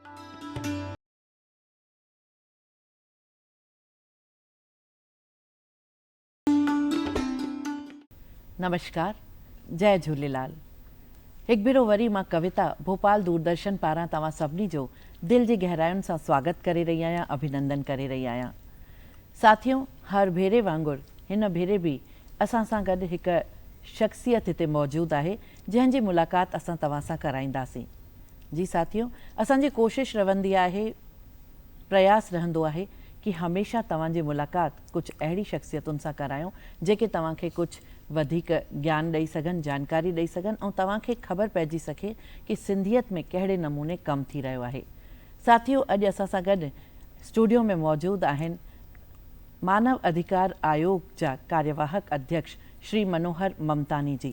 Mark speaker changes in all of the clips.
Speaker 1: آهي. نمشڪار جئه جهوليلال هڪ ڀيرو وري مان ڪويتا ڀوپال دوردرشن پاران توهان سڀني جو دل جي گهراين سان سواگت ڪري رهي آهيان اڀينندن ڪري رهي آهيان ساٿيو هر ڀيري وانگر هن ڀيري به اسان سان گڏ هڪ شخصيت هتي موجود آهي جنهن جي ملاقات اسان توهان سان ڪرائينداسين جي ساٿيو اسان جي ڪوشش رھندي آھي پرياس رھندو آھي ڪي ھميشه توھان جي ملاقات ڪجھ اھڙي شخصيتن سان ڪرايون جيڪي توھان کي ڪجھ وڌيڪ گيان ڏئي سگھن جانڪاري ڏئي سگھن ۽ توھان کي خبر پئجي سگھي ڪي سنڌيت ۾ ڪھڙي نموني ڪم ٿي رھيو آھي ساٿيو اڄ اسان سان گڏ اسٽوڊيو ۾ موجود آھن مانو اڌيڪار آيوگ جا ڪاريواھڪ اڌيڪش شري منوھر ممتاني جي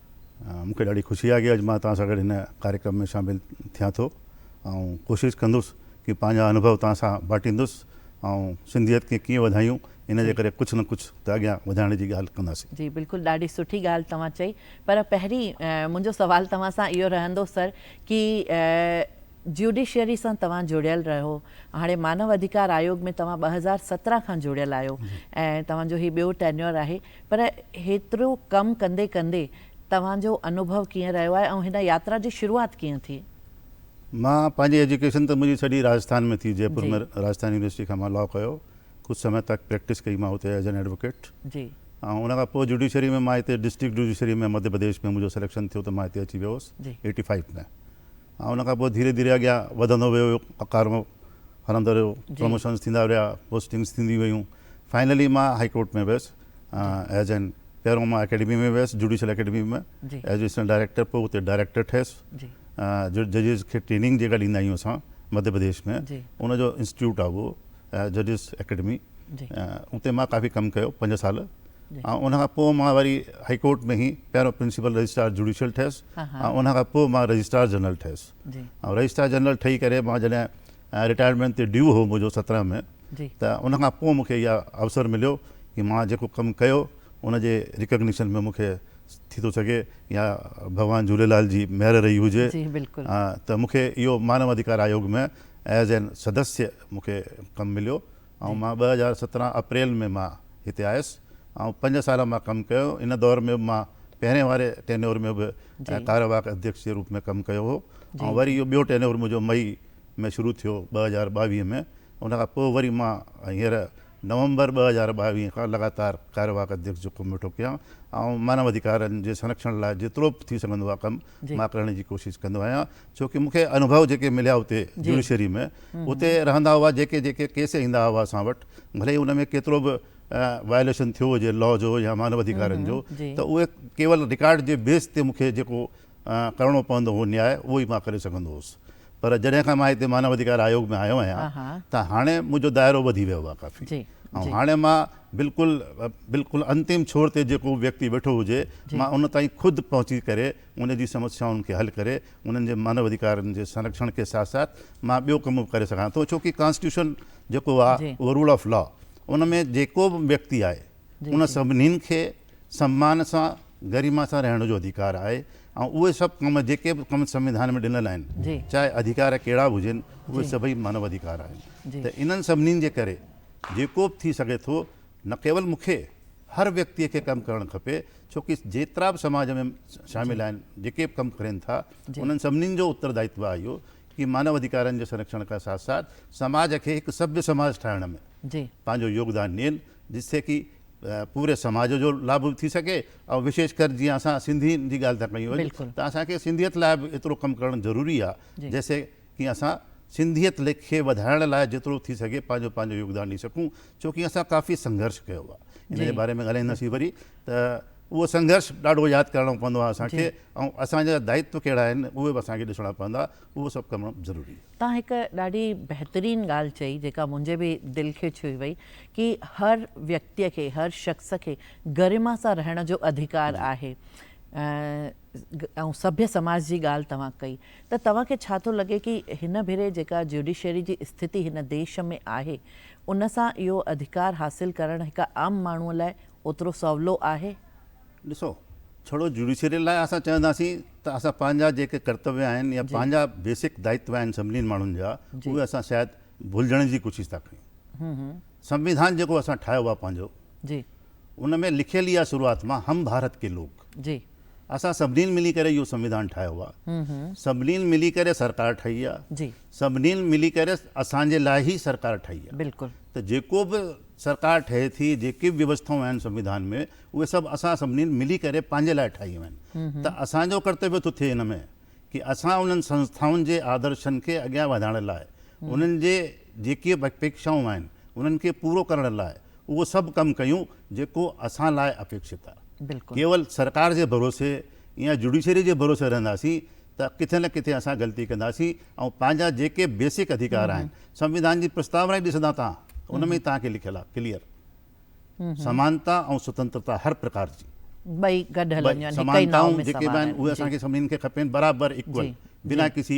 Speaker 2: مون کي ڏاڍي خوشي آهي ڪي اڄ مان توهان سان گڏ هن ڪاريڪرم ۾ شامل ٿيان ٿو ۽ ڪوشش ڪندس ڪي پنهنجا انوڀو توهان سان ٻاٽيندس ۽ سنڌيت کي ڪيئن وڌايون ان جي ڪري ڪجهه نه ڪجهه ته اڳيان وڌائڻ جي ڳالهه ڪنداسين. جي بلڪل ڏاڍي سٺي
Speaker 1: ڳالهه توهان چئي پر پهرين منهنجو سوال توهان سان اهو رهندو سر ڪي جيوڊيشري سان توهان جڙيل رهو هاڻي مانو اڌيڪار آيوگ ۾ توهان ٻه هزار سترهن کان جڙيل آهيو ۽ توهان جو هي ٻيو ٽينيور آهي پر هيترو ڪم ڪندي ڪندي توهان جو انوڀو ڪيئن رهيو آهي ۽ هن ياترا جي شروعات ڪيئن ٿي؟ مان
Speaker 2: پنهنجي ايجوڪيشن ته منهنجي سڄي راجسٿان ۾ ٿي جئپور ۾ راجسٿان يونيورسٽي کان مان لا ڪيو ڪجهه سمي تڪ پريڪٽس ڪئي مان اتي ايز اين ايڊووڪيٽ ۽ ان
Speaker 1: کان پوء
Speaker 2: جوڊيشري ۾ مان هتي ڊسٽرڪٽ جوڊيشري ۾ مڌيه پرديش ۾ منهنجو سليڪشن ٿيو ته مان هتي اچي ويو هوس ايٽي فائيو ۾. ۽ ان کان پوء ڌيري ڌيري اڳيان وڌندو ويو ويو پگهار مون ڦرندو رهيو پروموشنس ٿيندا رهيا پوسٽنگس ٿينديون ويون فائنلي مان هائي ڪورٽ ۾ ويس ايز اين پهريون مان اڪيڊمي ۾ ويس judicial academy ۾ as assistant director پوء اتي ڊائريڪٽر ٺهيس جو ججز کي ٽريننگ جيڪا ڏيندا آهيون اسان مڌيه پرديش ۾ ان جو انسٽيٽيوٽ آهي اهو ججز اڪيڊمي اتي مان ڪافي ڪم ڪيو پنج سال ۽ ان کان پوء مان وري هائي ڪورٽ ۾ هي پهريون پرنسپل رجسٽرار جوڊيشل ٺهيس ۽ ان کان پوء مان رجسٽرار جنرل ٺهيس ۽ رجسٽرار جنرل ٺهي ڪري مان جڏهن رٽائرمينٽ تي ڊيو هو منهنجو سترهن ۾ ته ان کان پوء مون کي اها اوسر مليو ڪي مان جيڪو ڪم ڪيو ان جي ريڪگنيشن ۾ مون کي ٿي ٿو سگهي يا ڀڳوان جهوليلال جي مهر رهي هجي ته مون کي اهو مانو اڌڪار آيوگ ۾ ايز اين سدسيه مون کي ڪم مليو ۽ مان ٻه هزار سترهن اپريل ۾ مان هتي آيس ۽ پنج سال مان ڪم ڪيو، ان دور ۾ به مان پهرين واري ٽينيور ۾ به ڪاريواهڪ اڌيڪش جي روپ ۾ ڪم ڪيو هو ۽ وري اهو ٻيو ٽينيور منهنجو مئي ۾ شروع ٿيو ٻه هزار ٻاويهه ۾ ان کان پوء وري مان هينئر نومبر ٻه هزار ٻاويهه کان لڳاتار ڪاريواهڪ اڌيڪش جو ڪم ويٺو ڪيان ۽ مانو اڌيڪارن جي سرڪشڻ لاء جيترو به ٿي سگهندو آهي ڪم مان ڪرڻ جي ڪوشش ڪندو آهيان ڇو ڪي مون کي انوڀو جيڪي مليا اتي جوڊيشري ۾ اتي رهندا هئا جيڪي جيڪي ڪيس ايندا هئا اسان وٽ ڀلي هي ان ۾ ڪيترو به وائليشن ٿيو هجي لا جو يا مانو ادهيڪارن جو ته اهي ڪيول رڪارڊ جي بيس تي مون کي جيڪو ڪرڻو پوندو هو نياء اهو ئي مان ڪري سگهندو هوس پر جڏهن کان مان هتي مانو ادهيڪار آيوگ ۾ آيو آهيان ته هاڻي منهنجو دائرو وڌي ويو آهي ڪافي ۽ هاڻي مان بلڪل بلڪل انتم ڇور تي جيڪو ويڪتي ويٺو هجي مان ان تائين خود پهچي ڪري ان جي سمسيائن کي حل ڪري انهن جي مانو اڌيڪارن جي سنرکشڻ ڪي ساٿ ساٿ مان ٻيو ڪم به ڪري سگهان ٿو ڇو ڪي ڪانسٽيٽيوشن جيڪو آ اهو رول آف لا ان ۾ جيڪو به ويڪتي آهي ان سڀنين کي سمان سان گريما سان رهڻ جو اڌيڪار آهي ۽ اهي سڀ ڪم جيڪي به ڪم سنوڌان ۾ ڏنل آهن چاهي اڌيڪار ڪهڙا به هجن اهي سڀئي مانو اڌيڪار آهن ته انهن سڀنين جي ڪري جيڪو به ٿي سگهي ٿو نه ڪيول مون کي، هر ويڪتيء کي ڪم ڪرڻ کپي، ڇو ڪي جيترا به سماج ۾ شامل آهن، جيڪي به ڪم ڪرين ٿا، انهن سڀني جو اتردائتو آهي اهو ڪي مانو اڌيڪارن جي سرڪشڻ کان ساٿ ساٿ سماج کي هڪ سڀي سماج ٺاهڻ ۾ پنهنجو يوگدان ڏين، جس سي ڪي پوري سماج جو لاڀ به ٿي سگهي ۽ وشيش ڪر جيئن اسان سنڌين جي ڳالهه ٿا ڪيون اڄ ته اسان کي سنڌيت لاء به ايترو ڪم ڪرڻ ضروري آهي، جس سي ڪي اسان سنڌيت ليک کي وڌائڻ لاء جيترو ٿي سگهي پنهنجو پنهنجو يوگدان ڏئي سگهون ڇو ڪي اسان ڪافي سنگهرش ڪيو آ ان جي باري ۾ ڳالهائينداسين وري ته اهو سنگهرش ڏاڍو ياد ڪرڻو پوندو آ اسان کي ۽ اسان جا دائتو ڪهڙا آهن اهي به اسان کي ڏسڻا پوندا اهو سڀ ڪم ضروري آ. تان هڪ ڏاڍي
Speaker 1: بهترين ڳالهه چئي جيڪا منهنجي به دل کي ڇهي وئي ڪي هر ويڪتي کي هر شخص کي گرما سان رهڻ جو اڌڪار آهي ۽ سڀي سماج جي ڳالهه توهان ڪئي. ته توهان کي ڇا ٿو لڳي ڪي هن ڀيري جيڪا جيوڊيشري جي استھتي هن ديش ۾ آهي ان سان اهو اڌڪار حاصل ڪرڻ هڪ عام ماڻهو لاء اوترو سولو آهي؟ ڏسو
Speaker 2: ڇڙو جيوڊيشري لاء اسان چونداسين ته اسان پنهنجا جيڪي ڪرتويه آهن يا پنهنجا بيسڪ دائتوا آهن سڀني ماڻهن جا اهي اسان شايد ڀلجڻ جي ڪوشش ٿا ڪريون سنوڌان جيڪو اسان ٺاهيو آهي پنهنجو
Speaker 1: ان ۾ لکيل
Speaker 2: ئي آهي شروعات مان هم ڀارت ڪي لوگ اسان
Speaker 1: سڀني
Speaker 2: ملي ڪري اهو سنوڌان ٺاهيو آ سڀني ملي ڪري سرڪار ٺهي آ سڀني
Speaker 1: ملي ڪري
Speaker 2: اسان جي لاء هي سرڪار ٺهي آ ته جيڪو به سرڪار ٺهي ٿي جيڪي به ويوسٿائون آهن سنوڌان ۾ اهي سڀ اسان سڀني ملي ڪري پنهنجي لاء ٺاهيون آهن ته اسان جو ڪرتويو ٿو ٿئي ان ۾ ڪي اسان انهن سنسٿائن جي آدرشن کي اڳيان وڌائڻ لاء انهن جي جيڪي اپيڪشائون آهن انهن کي پورو ڪرڻ لاء اهو سڀ ڪم ڪيون جيڪو اسان لاء اپيڪشت آهي. ڪيول سرڪار
Speaker 1: جي
Speaker 2: ڀروسي يا جوڊيشري جي ڀروسي رهنداسين ته ڪٿي نه ڪٿي اسان غلطي ڪنداسين ۽ پنهنجا جيڪي بيسڪ اڌيڪار آهن سنوڌان جي پرستاونا ئي ڏسندا تان ان ۾ ئي توهان کي لکيل آهي ڪليئر سمانتا ۽ سوتنترتا هر پرڪار جي. ٻئي گڏ
Speaker 1: هلنديون آهن هڪ ئي ناء ۾ سوار آهن. سمانتائون جيڪي به آهن اهي
Speaker 2: اسان کي
Speaker 1: سڀني
Speaker 2: کي کپين
Speaker 1: برابر
Speaker 2: ايڪول بنا ڪسي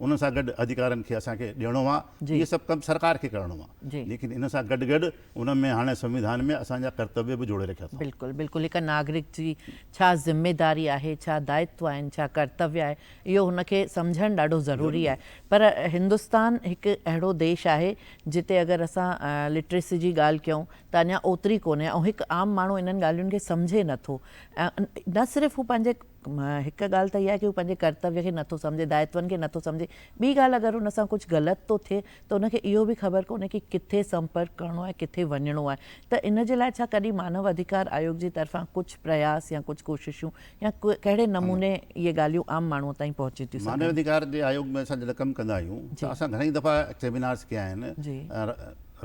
Speaker 2: ان سان گڏ اڌيڪارن کي اسان کي ڏيڻو آ اهي سڀ ڪم سرڪار
Speaker 1: کي
Speaker 2: ڪرڻو آ ليڪن ان سان گڏ
Speaker 1: گڏ
Speaker 2: ان ۾ هاڻي سنوڌان ۾ اسان جا ڪرتويه به جوڙي رکيا اٿئون. بلڪل بلڪل هڪ ناگرڪ
Speaker 1: جي ڇا ذميداري آهي ڇا دائتو آهن ڇا ڪرتويه آهي اهو هن کي سمجهڻ ڏاڍو ضروري آهي پر هندستان هڪ اهڙو ديش آهي جتي اگر اسان لٽريسي جي ڳالهه ڪيون ته اڃا اوتري ڪونهي ۽ هڪ عام ماڻهو انهن ڳالهين کي سمجهي نٿو نه صرف هو پنهنجي هڪ ڳالهه ته اها آهي ڪي هو پنهنجي ڪرتويه کي نٿو سمجهي، دائتون کي نٿو سمجهي، ٻي ڳالهه اگر هن سان ڪجهه غلط ٿو ٿئي ته هن کي اهو به خبر ڪونهي ڪي ڪٿي سمپرڪ ڪرڻو آهي ڪٿي وڃڻو آهي ته ان جي لاء ڇا ڪڏهن مانو اڌيڪار آيوڳ جي طرفان ڪجهه پرياس يا ڪجهه ڪوششون يا ڪهڙي نموني اهي ڳالهيون عام ماڻهو تائين پهچي ٿيون سگهن؟ مانو اڌيڪار جي آيوڳ ۾
Speaker 2: اسان جڏهن ڪم ڪندا آهيون ته اسان گهڻي دفعا سيمينارز ڪيا آهن،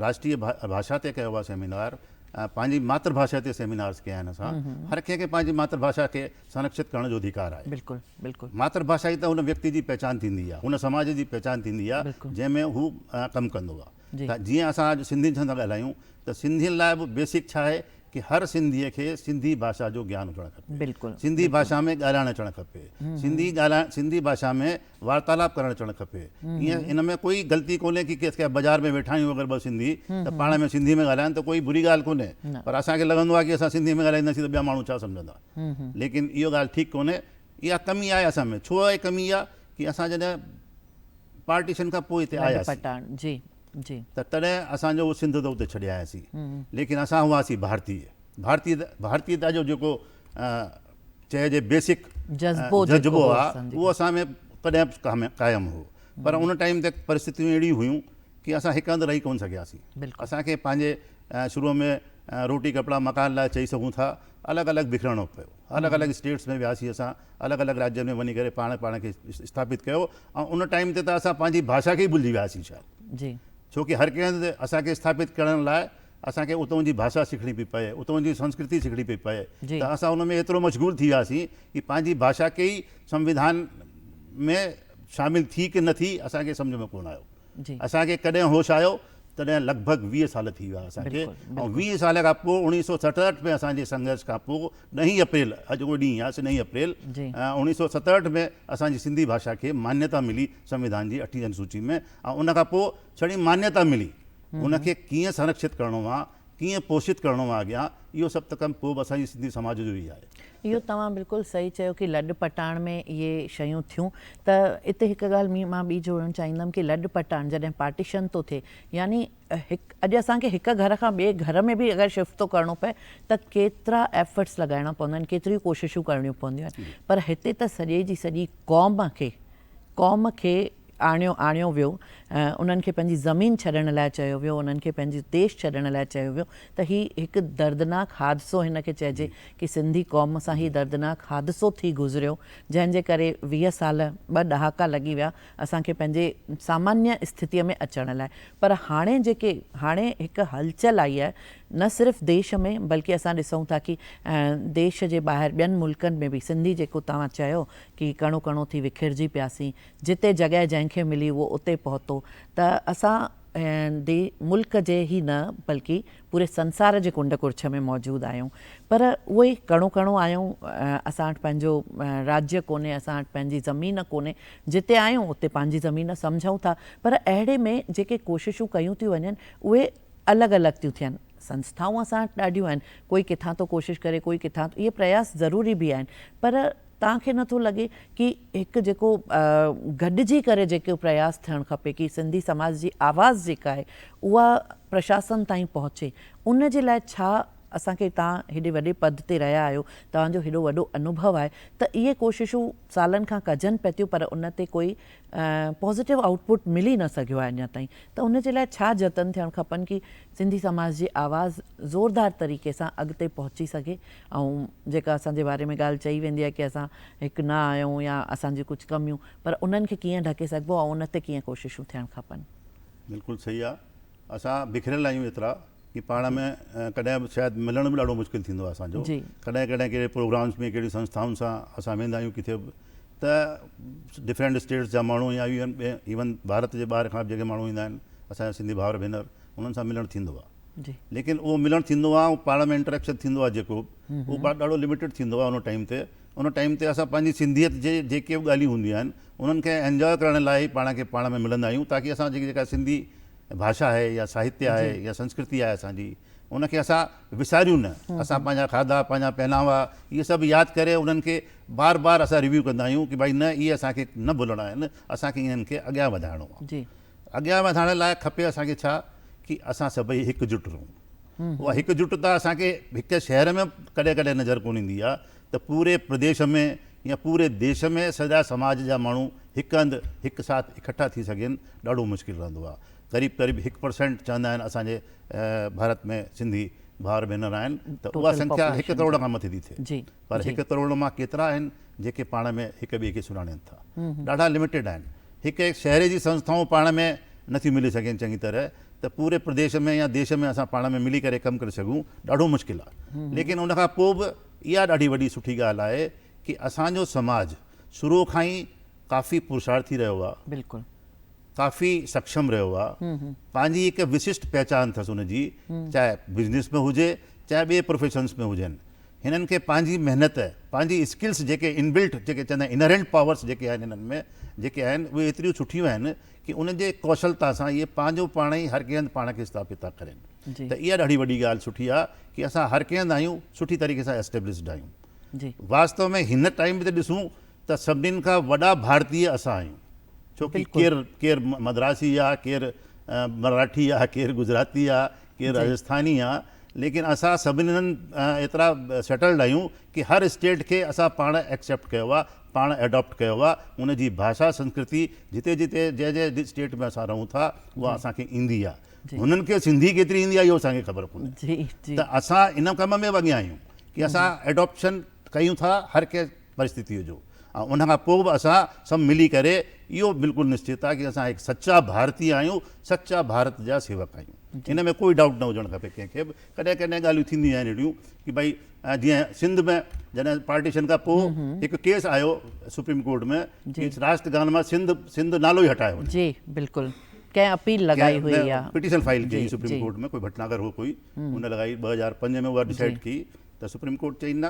Speaker 1: راشٽريه
Speaker 2: ڀاشا تي ڪيو آهي سيمينار، پنهنجي ماتر ڀاشا تي سيمينارز ڪيا آهن اسان هر ڪنهن کي پنهنجي ماتر ڀاشا کي سنرڪشت ڪرڻ جو اڌيڪار آهي بلڪل بلڪل ماتر
Speaker 1: ڀاشا ئي ته هن
Speaker 2: ويڪتي جي پهچان ٿيندي آهي هن سماج جي پهچان ٿيندي آهي بلڪل جنهن ۾ هو ڪم ڪندو آهي جي ته جيئن اسان اڄ سنڌين سان ٿا ڳالهايون ته سنڌين لاء به بيسڪ ڇا آهي ڪي هر سنڌيء کي سنڌي ڀاشا جو گيان هجڻ کپي بلڪل سنڌي بلڪل ڀاشا
Speaker 1: ۾ ڳالهائڻ
Speaker 2: اچڻ کپي سنڌي ڳالهائڻ سنڌي ڀاشا ۾ وارتالاب ڪرڻ اچڻ کپي ائين ان ۾ ڪوئي غلطي ڪونهي ڪي ڪيس ڪي بازار ۾ ويٺا آهيون اگر ٻه سنڌي ته پاڻ ۾ سنڌي ۾ ڳالهائن ته ڪوئي بري ڳالهه ڪونهي پر اسان کي لڳندو آهي ڪي اسان سنڌي ۾ ڳالهائينداسين ته ٻيا ماڻهو ڇا سمجهندا ليڪن اهو ڳالهه ٺيڪ ڪونهي اها ڪمي آهي اسان ۾ ڇو اهي ڪمي اها ڪي اسان جڏهن پارٽيشن کان پوء هتي آياسين
Speaker 1: ته تڏهن اسان
Speaker 2: جو سنڌ ته اتي ڇڏي آياسين ليڪن اسان هئاسين ڀارتي ڀارتي ڀارتي ته اڄ جيڪو چئي جي بيسڪ جذبو آ اهو اسان ۾ تڏهن قائم هو پر ان ٽائيم تي پرستتيون اهڙيون هيون ڪي اسان هڪ هنڌ رهي ڪون سگهياسين اسان کي پنهنجي شروع ۾ روٽي ڪپڙا مڪان لاء چئي سگهون ٿا الڳ الڳ بکرڻو پيو الڳ الڳ اسٽيٽس ۾ وياسين اسان الڳ الڳ راجين ۾ وڃي ڪري پاڻ پاڻ کي اسٿاپت ڪيو ۽ ان ٽائيم تي ته اسان پنهنجي ڀاشا کي ئي ڀلجي وياسين شايد جي ڇو ڪي هر
Speaker 1: ڪنهن هنڌ
Speaker 2: اسان کي اسٿاپت ڪرڻ لاء اسان کي اتون جي ڀاشا سکڻي پئي پئي، اتون جي سنسڪرتي سکڻي پئي پئي ته اسان ان ۾ ايترو مشغول ٿي وياسين ڪي پنهنجي ڀاشا ڪي ئي سنوڌان ۾ شامل ٿي ڪي نه ٿي اسان کي سمجهه ۾ ڪونه آيو. اسان کي ڪڏهن هوش آيو تڏهن لڳ ڀڳ ويهه سال ٿي ويا اسان کي ۽ ويهه سال کان پوء اوڻيهه سؤ ستهٺ ۾ اسان جي سنگهرش کان پوء ڏهين اپريل اڄ اهو ڏينهن آهي سي ڏهين اپريل اوڻيهه سؤ ستهٺ ۾ اسان جي سنڌي ڀاشا کي مانيتا ملي سنوڌان جي اٺين انوسوچي ۾ ۽ ان کان پوء ڇڙي مانيتا ملي هن کي ڪيئن سنرکشت ڪرڻو آ، ڪيئن پوشت ڪرڻو آ اڳيان، اهو سڀ ته ڪم ڪوبه اسان جي سنڌي سماج جو ئي آهي. اهو توهان بلڪل
Speaker 1: صحيح چيو ڪي لڏ پٽاڻ ۾ اهي شيون ٿيون ته اتي هڪ ڳالهه مان ٻي جوڙڻ چاهيندم ڪي لڏ پٽاڻ جڏهن پارٽيشن ٿو ٿئي يعني هڪ اڄ اسان کي هڪ گهر کان ٻي گهر ۾ به اگر شفٽ ٿو ڪرڻو پئي ته ڪيترا ايفرٽس لڳائڻا پوندا آهن ڪيتريون ڪوششون ڪرڻيون پونديون آهن پر هتي ته سڄي جي سڄي قوم کي قوم کي آڻيو آڻيو ويو انهن کي پنهنجي زمين ڇڏڻ لاء چيو ويو انهن کي پنهنجي ديش ڇڏڻ لاء چيو ويو ته هي هڪ دردناڪ حادثو هن کي چئجي ڪي سنڌي قوم سان هي دردناڪ حادثو ٿي گذريو جنهن جي ڪري ويهه سال ٻه ڏهاڪا لڳي ويا اسان کي پنهنجي سامانيه استھتي ۾ اچڻ لاء پر هاڻي جيڪي هاڻي هڪ هلچل آئي آهي نه صرف ديش ۾ بلڪه اسان ڏسون ٿا ڪي ديش جي ٻاهر ٻين ملڪن ۾ به سنڌي جيڪو توهان چيو ڪي ڪڻو ڪڻو ٿي وکيرجي پياسين، جتي جڳهه جنهن کي ملي اهو اتي پهتو ته اسان دي ملڪ جي هي نه بلڪه پوري سنسار جي ڪنڊ ڪڙڇ ۾ موجود آهيون پر اهو ئي ڪڻو ڪڻو آهيون اسان وٽ پنهنجو راجيه ڪونهي اسان وٽ پنهنجي زمين ڪونهي جتي آهيون اتي پنهنجي زمين سمجهون ٿا پر اهڙي ۾ جيڪي ڪوششون ڪيون ٿيون وڃن اهي الڳ الڳ ٿيون ٿين سنسٿائون اسان وٽ ڏاڍيون آهن ڪوئي ڪٿان ٿو ڪوشش ڪري ڪوئي ڪٿان ٿو اهي پرياس ضروري به آهن پر توهان کي نٿو لڳي ڪي هڪ جيڪو گڏجي ڪري جيڪو پرياس ٿيڻ کپي ڪي سنڌي سماج جي آواز جيڪا آهي اها پرشاسن تائين پهچي ان جي لاء ڇا اسان کي توهان هيڏي وڏي پد تي رهيا آهيو توهان جو هيڏو وڏو انوڀو آهي ته اهي ڪوششون سالن کان ڪجن پئي ٿيون پر ان تي ڪوئي پازيٽو آئوٽ پٽ ملي نه سگهيو آهي اڃا تائين ته ان جي لاء ڇا جتن ٿيڻ کپن ڪي سنڌي سماج جي آواز زوردار طريقي سان اڳتي پهچي سگهي ۽ جيڪا اسان جي باري ۾ ڳالهه چئي ويندي آهي ڪي اسان هڪ نه آهيون يا اسان جون ڪجهه ڪميون پر انهن کي ڪيئن ڍڪي سگهبو ۽ ان تي ڪيئن ڪوششون ٿيڻ کپن. بلڪل صحيح
Speaker 2: آ اسان بکريل آهيون ايترا ڪي پاڻ ۾ ڪڏهن به شايد ملڻ به ڏاڍو مشڪل ٿيندو آهي اسان جو ڪڏهن ڪڏهن ڪهڙي پروگرامس ۾ ڪهڙي سنسٿائن سان اسان ويندا آهيون ڪٿي به ته ڊفرينٽ اسٽيٽس جا ماڻهو يا ايون ايون بارت جي ٻاهر کان به جيڪي ماڻهو ايندا آهن اسان جا سنڌي ڀائر ڀينر انهن سان ملڻ ٿيندو آهي ليڪن اهو ملڻ ٿيندو آهي ۽ پاڙ ۾ انٽريڪشن ٿيندو آهي جيڪو اهو پاڙ ڏاڍو لميٽيڊ ٿيندو آهي ان ٽائيم تي ان ٽائيم تي اسان پنهنجي سنڌيت جي جيڪي به ڳالهيون هونديون آهن انهن کي انجوائي ڪرڻ لاء ئي پاڻ کي پاڻ ۾ ملندا آهيون تاڪي اسان جي جيڪا سنڌي ڀاشا آهي يا ساهتيه آهي يا سنسڪرتي آهي اسان جي ان کي اسان وساريون نه اسان پنهنجا کاڌا پنهنجا پهناوا اهي سڀ ياد ڪري انهن کي بار بار اسان ريويو ڪندا آهيون ڪي ڀائي نه اهي اسان کي نه ڀلڻا آهن اسان کي انهن کي اڳيان وڌائڻو آهي اڳيان وڌائڻ لاء کپي اسان کي ڇا ڪي اسان سڀئي هڪجٽ رهون. اها هڪجٽتا اسان کي هڪ شهر ۾ ڪڏهن ڪڏهن نظر ڪونه ايندي آهي ته پوري پرديش ۾ يا پوري ديش ۾ سڄا سماج جا ماڻهو هڪ هنڌ هڪ ساٿ اڪٺا ٿي سگهين ڏاڍو مشڪل رهندو آهي. قريب قريب هڪ پرسينٽ چوندا آهن اسان جي ڀارت ۾ سنڌي ڀائر ڀينر آهن ته اها سنکيا هڪ ڪروڙ کان مٿي ٿي ٿئي پر هڪ ڪروڙ مان ڪيترا آهن جيڪي پاڻ ۾ هڪ ٻئي کي سڃاڻين ٿا؟ ڏاڍا لمٽيڊ آهن. هڪ هڪ شهر جي سنسٿائون پاڻ ۾ نٿيون ملي سگهين چڱي طرح ته پوري پرديش ۾ يا ديش ۾ اسان پاڻ ۾ ملي ڪري ڪم ڪري سگهون ڏاڍو مشڪل آهي. ليڪن ان کان پوء به اها ڏاڍي وڏي سٺي ڳالهه آهي ڪي اسان جو سماج شروع کان ئي ڪافي پرساڙ ٿي رهيو آهي.
Speaker 1: ڪافي
Speaker 2: سکشم رهيو آهي پنهنجي هڪ وسشٽ پهچان اٿس ان جي چاهي بزنس ۾ هجي چاهي ٻئي پروفيشنس ۾ هجن هنن کي پنهنجي محنت پنهنجي اسڪلس جيڪي ان بلٽ جيڪي چوندا آهن انهرنٽ پاورس جيڪي آهن هنن ۾ جيڪي آهن اهي ايتريون سٺيون آهن ڪي ان جي ڪوشلتا سان اهي پنهنجو پاڻ ئي هر ڪنهن هنڌ پاڻ کي اسٿاپت ٿا ڪرين ته اها ڏاڍي وڏي ڳالهه سٺي آهي ڪي اسان هر ڪنهن هنڌ آهيون سٺي طريقي سان اسٽيبلشڊ آهيون واستو ۾ هن ٽائيم تي ڏسون ته سڀني کان وڏا ڀارتي اسان آهيون ڇو ڪي ڪير ڪير مدراسي آ ڪير مراٺي آ ڪير گجراتي آ ڪير راجسٿاني آ ليڪن اسان سڀني هنن ايترا سيٽلڊ آهيون ڪي هر اسٽيٽ کي اسان پاڻ ايڪسيپٽ ڪيو آ پاڻ ايڊاپٽ ڪيو آ ان جي ڀاشا سنسڪرتي جتي جتي جنهن جنهن اسٽيٽ ۾ اسان رهون ٿا اها اسان کي ايندي آ هنن کي سنڌي ڪيتري ايندي آ اهو اسان کي خبر ڪونهي ته اسان ان ڪم ۾ به اڳيان آهيون ڪي اسان ايڊاپشن ڪيون ٿا هر ڪي پرستٿيء جو ۽ ان کان پوء به اسان سڀ ملي ڪري اهو بلڪل نشچت آهي ڪي اسان هڪ سچا ڀارتي آهيون، سچا ڀارت جا سيوڪ آهيون. ان ۾ ڪوئي ڊائوٽ نه هجڻ کپي ڪنهن کي به. ڪڏهن ڪڏهن ڳالهيون ٿينديون آهن اهڙيون ڪي ڀئي جيئن سنڌ ۾ جڏهن پارٽيشن کان پوء هڪ ڪيس آيو سپريم ڪورٽ ۾ ڪي راشد خان مان سنڌ سنڌ نالو ئي هٽايو وڃي. جي بلڪل
Speaker 1: ڪنهن اپيل لڳائي هئي يا پٽيشن فائل ڪئي سپريم
Speaker 2: ڪورٽ ۾ ڪوئي ڀٽناگر هو ڪوئي ان لڳائي ٻه هزار پنج ۾ اها ڊسائيڊ ڪئي ته سپريم ڪورٽ چئي نه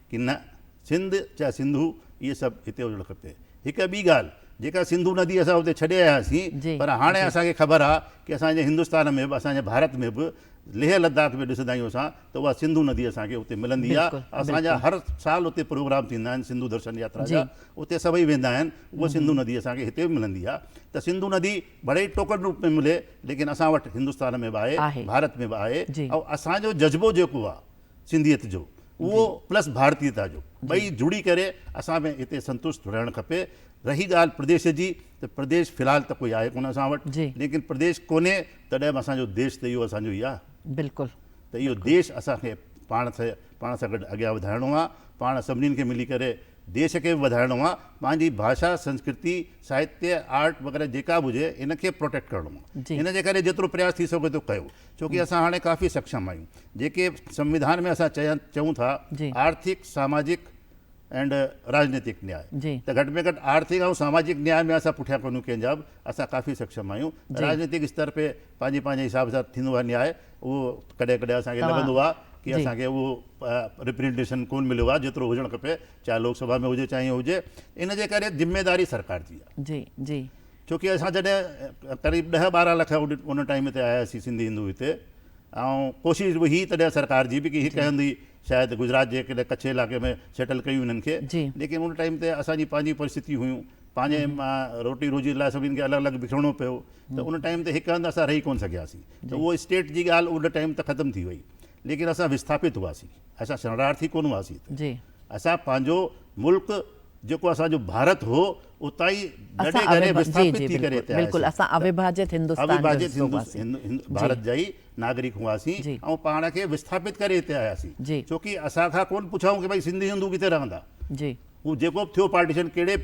Speaker 2: ڪي نه، سنڌ چاهي سنڌو اهي سڀ هتي هجڻ کپي. هڪ ٻي ڳالهه جيڪا سنڌو ندي اسان اتي ڇڏي آيا هئاسين پر هاڻي اسان کي خبر آهي ڪي اسان جي هندستان ۾ به اسان جي ڀارت ۾ به ليهه لداخ ۾ ڏسندا آهيون اسان ته اها سنڌو ندي اسان کي اتي ملندي آهي اسان جا هر
Speaker 1: سال
Speaker 2: اتي پروگرام ٿيندا آهن سنڌو درشن ياترا جا اتي سڀئي ويندا آهن اها سنڌو ندي اسان کي هتي به ملندي آهي ته سنڌو ندي ڀلي ئي ٽوڪن روپ ۾ ملي ليڪن اسان وٽ هندستان ۾ به آهي ڀارت ۾ به آهي ۽ اسان جو جذبو جيڪو آهي سنڌيت جو اهو پلس ڀارتيتا جو ٻئي جڙي ڪري اسان کي هتي سنتوشت رهڻ کپي رهي ڳالهه پرديش جي ته پرديش في الحال ته ڪوئي آهي ڪونه اسان وٽ ليڪن پرديش ڪونهي تڏهن به اسانجو ديش ته اهو اسانجو ئي آهي بلڪل ته اهو
Speaker 1: ديش
Speaker 2: اسان کي پاڻ سان پاڻ سان گڏ اڳيان وڌائڻو آهي پاڻ سڀني کي ملي ڪري ديش کي به وڌائڻو آهي پنهنجي ڀاشا سنسڪرتي ساهتيه آرٽ وغيره جيڪا به هجي ان کي پروٽيڪٽ ڪرڻو آهي ان جي ڪري جيترو پرياس ٿي سگهي ٿو ڪيو ڇو ڪي اسان هاڻي ڪافي سکشم آهيون جيڪي سنويڌان ۾ اسان چئون ٿا آرٿڪ ساماجڪ ۽ راجنيتڪ نياء ته گهٽ ۾ گهٽ آرٿڪ ۽ ساماجڪ نياء ۾ اسان پٺيان ڪونهيون ڪنهن جا به اسان ڪافي سکشم آهيون راجنيتڪ استر پي پنهنجي پنهنجي حساب سان ٿيندو آهي نياء اهو ڪڏهن ڪڏهن اسان کي لڳندو آهي ڪي اسان کي اهو ريپرينٽيشن ڪون مليو آهي جيترو هجڻ کپي چاهي لوڪ سڀا ۾ هجي چاهي هجي ان جي ڪري ذميداري سرڪار جي آهي ڇو ڪي اسان جڏهن قريب ڏهه ٻارهن لک ان ٽائيم تي آيا سين سنڌي هندو هتي ۽ ڪوشش به هي تڏهن سرڪار جي به ڪي هڪ هندي شايد گجرات جي ڪڏهن ڪڇ علائقي ۾ سيٽل ڪيون هنن کي ليڪن ان ٽائيم تي اسان جي پنهنجي پرستتيون هيون پنهنجي روٽي روزي لاء سڀني کي الڳ الڳ بکرڻو پيو ته ان ٽائيم تي هڪ هنڌ اسان رهي ڪون سگهيا سين ته اهو اسٽيٽ جي ڳالهه ان ٽائيم ته ختم ٿي وئي ليڪن اسان وسٿاپت هئا سين اسان شرڻارٿي ڪون هئا سين اسان پنهنجو ملڪ جيڪو اسان جو ڀارت هو اتان ئي ڳڙي ڳڙي وسٿاپت ٿي ڪري اتي آياسين. اسان اوڀاجيت
Speaker 1: هندستان جو حصو هئاسين.
Speaker 2: ڀارت جا ئي ناگرڪ هئاسين ۽ پاڻ کي وسٿاپت ڪري اتي آياسين. ڇو ڪي اسان کان ڪونه پڇائون ڪي ڀائي سنڌي هندو ڪٿي رهندا. هو جيڪو به ٿيو پارٽيشن ڪهڙي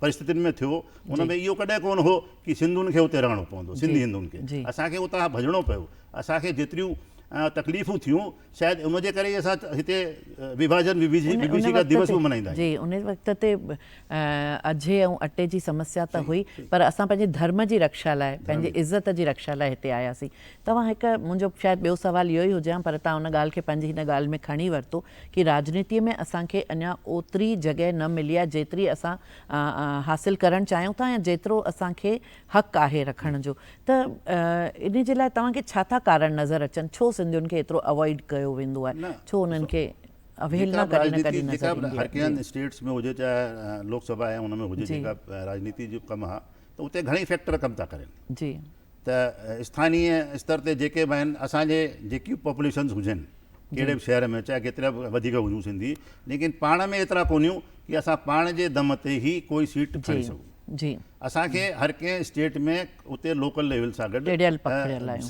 Speaker 2: پرستتين ۾ ٿيو ان ۾ اهو ڪڏهن ڪونه هو ڪي سنڌين کي اتي رهڻو پوندو سنڌي هندن کي اسان کي اتان ڀڄڻو پيو اسان کي جيتريون تڪليفون ٿيون. شايد ان جي ڪري ئي اسان هتي وڀاجن وڀيشيڪا ديوس به ملهائيندا آهيون. جي ان وقت تي
Speaker 1: اجهي ۽ اٽي جي سمسيا ته هئي پر اسان پنهنجي ڌرم جي رڪشا لاء پنهنجي عزت جي رڪشا لاء هتي آياسين توهان هڪ منهنجو شايد ٻيو سوال اهو ئي هجيان پر تان ان ڳالهه کي پنهنجي هن ڳالهه ۾ کڻي ورتو ڪي راجنيتي ۾ اسان کي اڃا اوتري جڳهه نه ملي آهي جيتري اسان حاصل ڪرڻ چاهيون ٿا يا جيترو اسان کي حق آهي رکڻ جو ته ان جي لاء توهان کي ڇا ٿا ڪارڻ نظر اچن ڇو سنڌين کي ايترو اوائيڊ ڪيو ويندو آهي ڇو انهن کي اوهيلنا ڪڏهن نه ڪڏهن نظر ايندي آهي جيڪا به راڄنيتي اسٽيٽس ۾ هجي
Speaker 2: چاهي لوڪ سڀا ۽ ان ۾ هجي جيڪا راڄنيتي جو ڪم آهي ته اتي گهڻي فيڪٽر ڪم ٿا ڪرين جي ته اسٿاني استر تي جيڪي به آهن اسان جي جيڪي به پاپوليشنز هجن ڪهڙي به شهر ۾ چاهي ڪيترا به وڌيڪ هجون سنڌي ليڪن پاڻ ۾ ايترا ڪونهيون ڪي اسان پاڻ جي دم تي هي ڪوئي سيٽ کڻي سگهون جي اسان کي هر ڪنهن اسٽيٽ ۾ اتي لوڪل ليول سان گڏ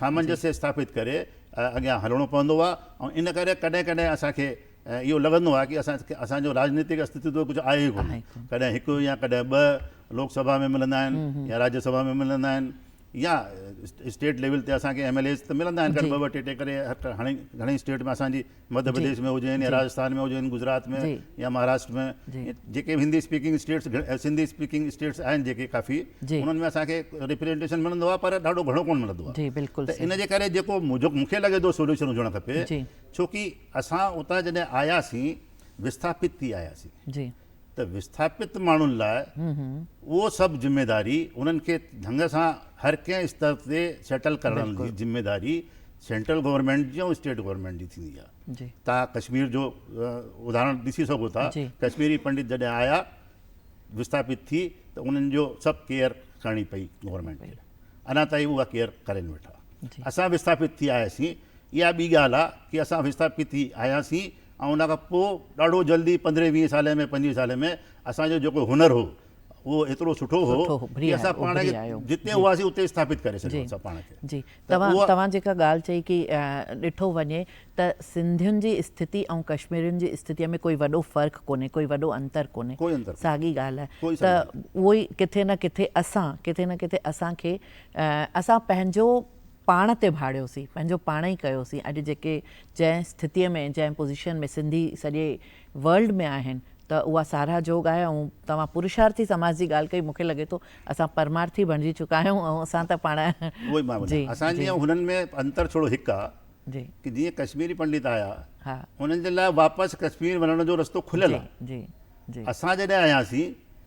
Speaker 2: سامنجس اسٿاپت ڪري اڳيان هلڻو پوندو آهي ۽ ان ڪري ڪڏهن ڪڏهن اسان کي اهو لڳندو آهي ڪي اسان اسان جو راجنيتڪ استتو ڪجهه آهي ئي ڪونه ڪڏهن هڪ يا ڪڏهن ٻه لوڪ سڀا ۾ ملندا آهن يا راجيا سڀا ۾ ملندا آهن يا اسٽيٽ ليول تي اسان کي ايم ايل ايز ته ملندا آهن ٻه ٻه ٽي ٽي ڪري هاڻي گهڻي اسٽيٽ ۾ اسان جي مڌيه پرديش ۾ هجن يا راجسٿان ۾ هجن گجرات ۾ يا مهاراشٽر ۾ جيڪي به Hindi speaking states Sindhi speaking states آهن جيڪي ڪافي انهن ۾ اسان کي ريپريزنٽيشن ملندو آهي پر ڏاڍو گهڻو ڪونه ملندو آهي ته ان جي ڪري جيڪو مون کي لڳي ٿو سوليوشن هجڻ کپي ڇو ڪي اسان اتان جڏهن آياسين وسٿاپت ٿي آياسين ته وسٿاپت ماڻهن لاء اهو سڀ ذميواري انهن کي ڍنگ سان هر ڪنهن استر تي سيٽل ڪرڻ جي ذميواري سينٽرل گورنمينٽ جي ۽ اسٽيٽ گورنمينٽ جي ٿيندي آهي تان ڪشمير جو اداهرڻ ڏسي سگهو ٿا ڪشميري پنڊت جڏهن آيا وسٿاپت ٿي ته انهن جو سڀ ڪيئر ڪرڻي پئي گورنمينٽ کي اڃا تائين اها ڪيئر ڪرين ويٺا اسان وسٿاپت ٿي آياسين اها ٻي ڳالهه آهي ڪي اسان وسٿاپت ٿي آياسين ۽ ان کان پوء ڏاڍو جلدي پندرهين ويهين سالين ۾ پنجويهين سالين ۾ اسان جو جيڪو هنر هو اهو ايترو سٺو هو ڪي اسان پاڻ کي جتي هئاسين اتي اسٿاپت ڪري سگهيو اسان پاڻ کي جي توهان توهان جيڪا
Speaker 1: ڳالهه چئي ڪي ڏٺو وڃي ته سنڌين جي اسٿتي ۽ ڪشميرين جي اسٿتي ۾ ڪوئي وڏو فرق ڪونهي ڪوئي وڏو انتر ڪونهي ساڳي ڳالهه آهي ته اهو ئي ڪٿي نه ڪٿي اسان ڪٿي نه ڪٿي اسان کي اسان پنهنجو پاڻ تي ڀاڙيوسين، پنهنجو پاڻ ئي ڪيوسين، اڄ جيڪي جنهن اسٿتيء ۾ جنهن پوزيشن ۾ سنڌي سڄي ورلڊ ۾ آهن ته اها ساراهه جوڳ آهي ۽ توهان پرشارٿي سماج جي ڳالهه ڪئي، مون کي لڳي ٿو اسان پرمارٿي بڻجي چڪا آهيون ۽ اسان ته پاڻ اهو ئي مان وڃان، جي اسان جي
Speaker 2: جي. هنن ۾ انتر ٿورو هڪ آهي جي. ڪي جيئن ڪشميري پنڊت آيا ها. انهن جي لاء واپس ڪشمير وڃڻ جو رستو کليل جي آهي، جي جي. اسان جڏهن آياسين.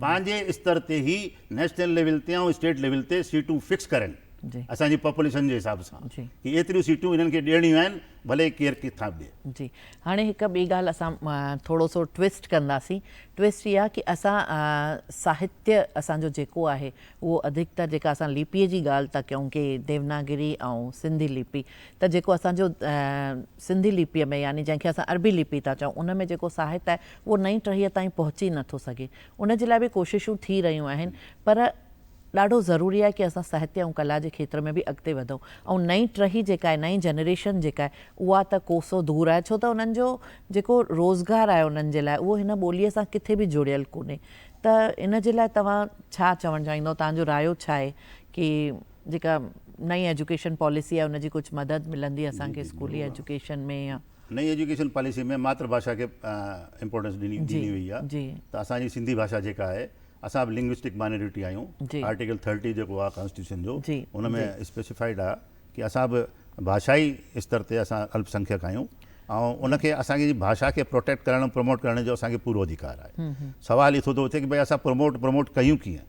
Speaker 2: پنهنجي استر تي هي نيشنل ليول تي ۽ اسٽيٽ ليول تي سيٽون فڪس ڪرين اسان جي پاپوليشن
Speaker 1: جي
Speaker 2: حساب سان ڪي ايتريون سيٽون
Speaker 1: هنن
Speaker 2: کي ڏيڻيون آهن ڀلي ڪير ڪٿان به ڏئي. جي هاڻي هڪ ٻي
Speaker 1: ڳالهه اسان ٿورو سو ٽوئسٽ ڪنداسين ٽوئسٽ اها ڪي اسان ساهتيه اسان جو جيڪو آهي اهو اڌڪتر جيڪا اسان ليپي جي ڳالهه ٿا ڪيون ڪي ديوناگري ۽ سنڌي ليپي ته جيڪو اسان جو سنڌي ليپي ۾ يعني جنهن کي اسان عربي ليپي ٿا چئون ان ۾ جيڪو ساهت آهي اهو نئين ٽهيء تائين پهچي نه ٿو سگهي. ان جي لاء به ڪوششون ٿي رهيون آهن، پر ڏاڍو ضروري آهي ڪي اسان ساهتيه ۽ ڪلا جي کيتر ۾ به اڳتي وڌون ۽ نئين ٽهي جيڪا آهي، نئين جنريشن جيڪا آهي، اها ته ڪوسو دور آهي، ڇو ته انهن جو جيڪو روزگار آهي انهن جي لاء اهو هن ٻوليء سان ڪٿي به جڙيل ڪونهي ته ان جي لاء توهان ڇا چوڻ چاهيندؤ، توهان جو رايو ڇا آهي ڪي جيڪا نئين ايجوڪيشن پاليسي آهي ان جي ڪجهه مدد ملندي اسان کي اسڪولي ايجوڪيشن ۾ يا. نئين ايجوڪيشن پاليسي
Speaker 2: ۾ ماتر ڀاشا کي امپورٽنس ڏني ڏني وئي آ ته اسان جي سنڌي ڀاشا جيڪا آهي اسان به لنگوسٽڪ مائنورٽي آهيون آرٽيڪل ٿرٽي جيڪو آ ڪانسٽيٽيوشن جو ان ۾ اسپيسيفائيڊ آ ڪي اسان به ڀاشائي استر تي اسان الپ سنکيڪ آهيون ۽ ان کي اسان جي ڀاشا کي پروٽيڪٽ ڪرڻ پروموٽ ڪرڻ جو اسان کي پورو اڌيڪار آهي سوال اٿو ٿو اٿي ڪي بھي اسان پروموٽ پروموٽ ڪيون ڪيئن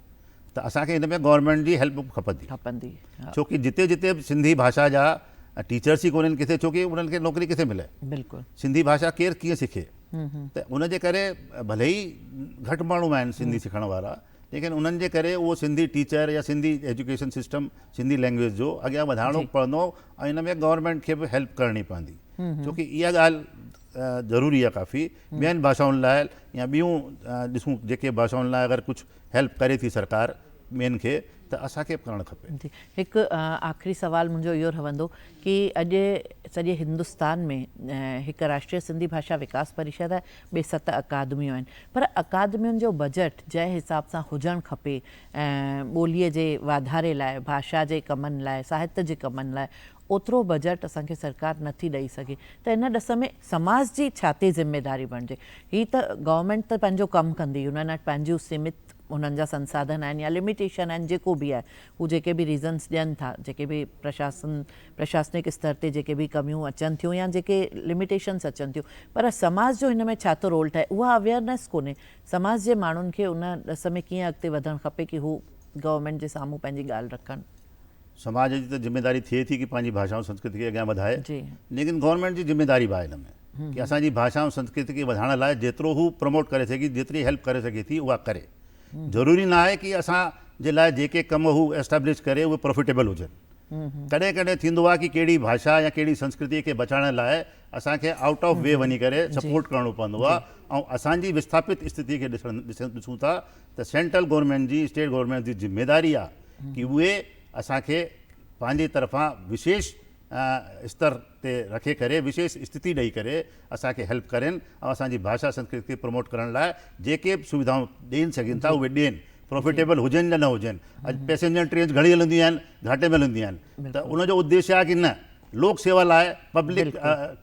Speaker 2: ته اسان کي ان ۾ گورنمينٽ جي هيلپ به کپندي. کپندي ها. ڇو ڪي جتي جتي به سنڌي ڀاشا جا ٽيچرس ئي ڪونهن ڪٿي ڇو ڪي انهن کي نوڪري ڪٿي ملي. بلڪل. سنڌي ڀاشا ڪير ڪيئن سکي. ته ان جي ڪري ڀلي ئي گهٽ ماڻهو آهن سنڌي سکڻ وارا ليڪن انهن جي ڪري اهو سنڌي ٽيچر يا Sindhi education system Sindhi language جو اڳيان وڌائڻو جي. پوندو ۽ ان ۾ گورنمينٽ کي به هيلپ ڪرڻي پوندي ڇو ڪي اها ڳالهه ضروري آهي ڪافي ٻين ڀاشائن لاء يا ٻيون ڏسون جيڪي ڀاشائن لاء اگر ڪجهه هيلپ ڪري ٿي سرڪار ٻين کي ته اسان کي به ڪرڻ کپي. جي هڪ
Speaker 1: آخري سوال منهنجو اهو رهندو ڪي اڄ سڄي هندستان ۾ هڪ راشٽريه سنڌي ڀاشا وڪاس پريشد آهي ٻي ست اڪادميون آهن پر اڪادمين جو بجيٽ جنهن حساب سان هجڻ کپي ٻولي جي واڌاري لاء ڀاشا جي ڪمن لاء ساهت جي ڪمن لاء اوترو بجيٽ اسان کي سرڪار نٿي ڏئي سگهي ته ان ڏس ۾ سماج جي ڇا تي ذميداري بڻجي. هي ته گورنمينٽ ته پنهنجو ڪم ڪندي، هنن وٽ پنهنجيون سيمت هنن جا سنساڌن آهن يا لميٽيشن آهن جيڪو به آهي هو جيڪي به ريزنس ڏين ٿا جيڪي به پرشاسن پرشاسنڪ استر تي جيڪي به ڪميون اچن ٿيون يا جيڪي لميٽيشنس اچن ٿيون پر سماج جو هن ۾ ڇا ٿو رول ٺهي اها اويئرنيس ڪونهي سماج جي ماڻهن کي ان ڏس ۾ ڪيئن اڳتي وڌڻ کپي ڪي هو گورنمينٽ جي سامهون پنهنجي ڳالهه رکن. سماج جي
Speaker 2: ته ذميداري ٿئي ٿي ڪي پنهنجي ڀاشا ۽ سنسڪرت کي اڳيان وڌائي ليڪن گورنمينٽ جي ذميداري به آهي ان ۾ ڪي اسان جي ڀاشا ۽ سنسڪرت کي وڌائڻ لاء جيترو هو پروموٽ ڪري سگهي جيتري هيلپ ڪري سگهي ٿي اها ڪري ضروري نه آهي ڪي اسان جي لاء جيڪي ڪم هو اسٽيبلش ڪري اهي پروفيٽيبل هجن ڪڏهن ڪڏهن ٿيندو آهي ڪي ڪهڙي ڀاشا يا ڪهڙي سنسڪرتي کي بچائڻ لاء اسان کي آئوٽ آف وي وڃي ڪري سپورٽ ڪرڻو پوندو آهي ۽ اسان جي وسٿاپت استٿي کي ڏسون ٿا ته سينٽرل گورنمينٽ جي اسٽيٽ گورنمينٽ جي ذميداري آ ڪي اهي اسان کي پنهنجي طرفان وشيش استر تي رکي ڪري وشيش استتي ڏئي ڪري اسان کي هيلپ ڪرين ۽ اسان جي ڀاشا سنسڪرت کي پروموٽ ڪرڻ لاء جيڪي به سويڌائون ڏين سگهين ٿا اهي ڏين پروفيٽيبل هجن يا نه هجن اڄ پيسينجر ٽرينز گهڻي هلنديون آهن گهاٽي ۾ هلنديون آهن ته ان جو اديش آ ڪي نه لوڪ سيوا لاء پبلڪ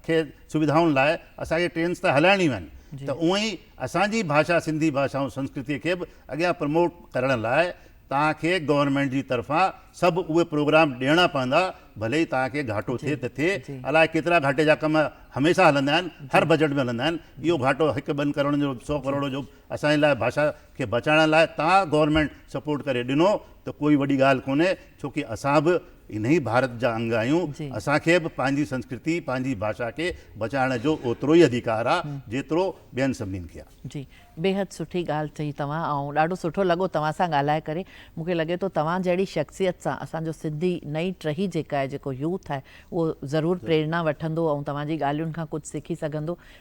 Speaker 2: کي سويڌائن لاء اسان کي ٽرينز ته هلائڻيون آهن ته اهو ئي اسان جي ڀاشا سنڌي ڀاشا ۽ سنسڪرتي کي به اڳيان پروموٽ ڪرڻ لاء توهان کي گورنمينٽ جي طرفان سڀ اهي پروگرام ڏيڻا پوندا ڀلي ئي توهان کي گهاٽو ٿئي ته ٿئي الائي ڪيترا گهاٽي جا ڪم هميشه هلندا آهن هر بجيٽ ۾ هلندا آهن اهو گهاٽو هڪ ٻن ڪروڙن جو سو ڪروڙ جو اسان جي لاء ڀاشا کي بچائڻ لاء توهان گورنمينٽ سپورٽ ڪري ڏنو ته ڪوئي وڏي ڳالهه ڪونهي ڇوڪي اسان به انهي ڀارت جا انگ آهيون، اسان کي به پنهنجي سنسڪرتي، پنهنجي ڀاشا کي بچائڻ جو اوترو ئي اڌيڪار آهي، جيترو ٻين سڀنين کي آهي. جي بيحد سٺي
Speaker 1: ڳالهه چئي توهان ۽ ڏاڍو سٺو لڳو توهان سان ڳالهائي ڪري مون کي لڳي ٿو توهان جهڙي شخصيت سان اسان جو سنڌي نئين ٽهي جيڪا آهي جيڪو يوٿ آهي اهو ضرور پريرنا وٺندو ۽ توهان جي ڳالهين کان ڪجهه سکي سگهندو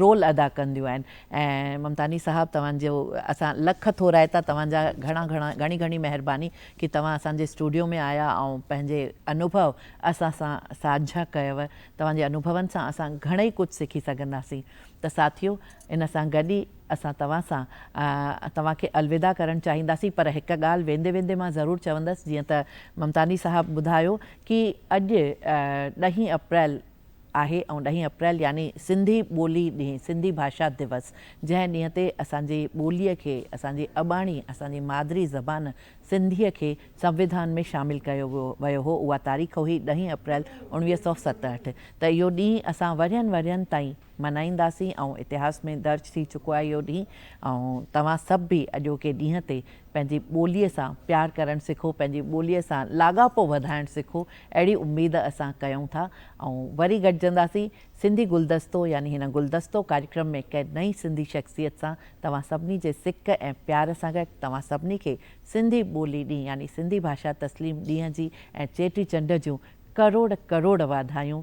Speaker 1: رول ادا ڪنديون آهن ۽ ممتاني صاحب توهان جو اسان لک ٿورائتا توهان جا گهڻا گهڻا گهڻي گهڻي مهرباني ڪي توهان اسان جي اسٽوڊيو ۾ آيا ۽ پنهنجي انوڀو اسان سان ساجها ڪيو توهان جي انوڀون سان اسان گهڻئي ڪجهه سکي سگهنداسين ته ساٿيو ان سان گڏ ئي اسان توهان سان توهان کي الوداع ڪرڻ چاهينداسين پر هڪ ڳالهه ويندي ويندي مان ضرور چوندس جيئن ته ممتاني صاحب ٻڌايو ڪي اڄ ڏهين اپريل آهي ۽ ڏهين اپريل يعني سنڌي ٻولي ڏينهن، سنڌي ڀاشا ديوس، جنهن ڏينهن تي اسان جي ٻوليء کي، اسان جي اباڻي، اسان جي مادري زبان سنڌيء کي سنوڌان ۾ شامل ڪيو ويو هو، اها تاريخ هئي ڏهين اپريل اوڻويهه سؤ ستهٺ ته اهو ڏينهن اسان ورهين ورهين تائين، منائينداسين ۽ اتهاس ۾ درج ٿي چڪو آهي اهو ڏينهن ۽ توهان سڀ به اڄوڪي ڏينهن تي پنهنجي ٻوليء سان پيار ڪرڻ سکو پنهنجي ٻوليء سان لاڳاپو وڌائڻ سکو اهڙي اميد اسان ڪيون ٿا ۽ وري گڏجنداسين سنڌي گلدستو يعني هن گلدستو ڪاريڪرم ۾ ڪنهن نئين سنڌي شخصيت سان توهان سڀني جي سڪ ۽ پيار سان گڏ توهان سڀني کي سنڌي ٻولي ڏينهن يعني سنڌي ڀاشا تسليم ڏينهن جي ۽ چيٽي چنڊ جون ڪروڙ ڪروڙ واڌايون